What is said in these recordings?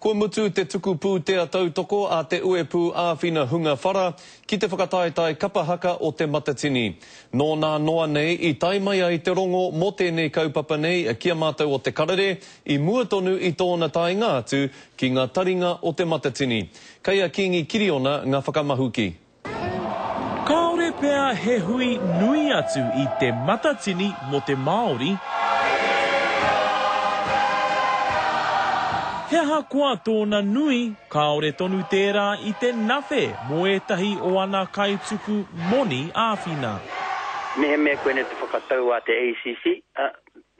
Kua mutu te tuku pūtea tautoko a Te Uepū Āwhina Hunga Whara ki te whakataetae kapa haka o Te Matatini. Nō nā noa nei i tae mai ai te rongo mō tēnei kaupapa nei ki a mātou o Te Karere i mua tonu i tōna taenga atu ki ngā taringa o Te Matatini. Kei a Kīngi Kiriona ngā whakamahuki. Kāore pea he hui nui atu i Te Matatini mō te Māori. He aha koa tōna nui, kāore tonu tērā i te nawhe mō ētahi o ana kaituku moni āwhina. Mehemea koinei te whakatau a te ACC,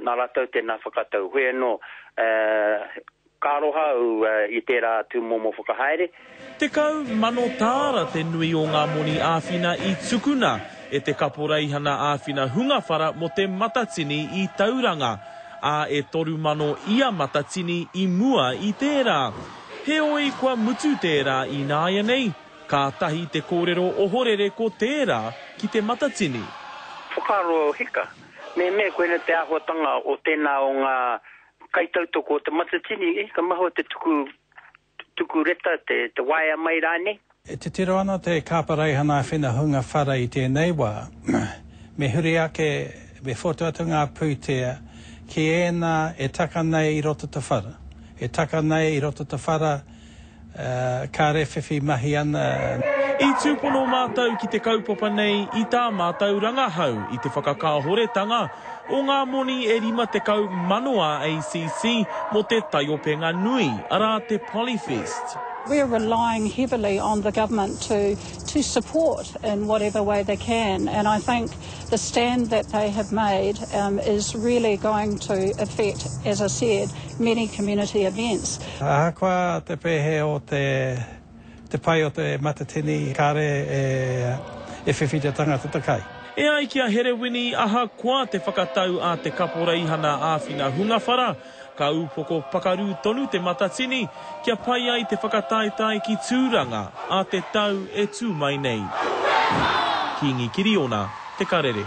nā rātou tēnā whakatau. Hoi anō, Ka aroha au i tērā tūmomo whakahaere. Tekau mano tāra te nui o ngā moni āwhina i tukuna e te Kaporeihana Āwhina Hunga Whara mō te Matatini i Tauranga, ā, e toru mano ia matatini i mua i tērā. Heoi, kua mutu tērā ināianei, kātahi te kōrero ohorere ko tērā ki te Matatini. Whakaaro hika, mehemea koinei te āhuatanga o tēnā o ngā Kaitautoko o te matatini, eh, ka mahua te tuku, tuku reta, te, te waea mai rānei. E titiro ana te Kāparaihana Whina Hunga Whare i tēnei wā. Me huri ake, me whotu atu ngā pūtea ki ēnā e taka nei i roto te whara, e taka nei i roto te whara, Kāre whiwhi mahi ana. I tūpono mātou ki te kaupapa nei i tā mātou rangahau i te whakakāhoretanga o ngā moni e 50 mano ā ACC mō te taiopenga nui, arā te Polyfest. We are relying heavily on the government to to support in whatever way they can and I think The stand that they have made is really going to affect, as I said, many community events. Ahakoa te pēhe o te pai o te matatini, kāre e whiwhi te tangata te kai. E ai ki a Herewini, ahakoa te whakatau a te Kaporeihana Āwhina Hungawhara, Ka upoko pakaru tonu te matatini kia pai ai te whakataetae ki Tūranga a te tau e tū mai nei. Kīngi Kiriona, Te Karere.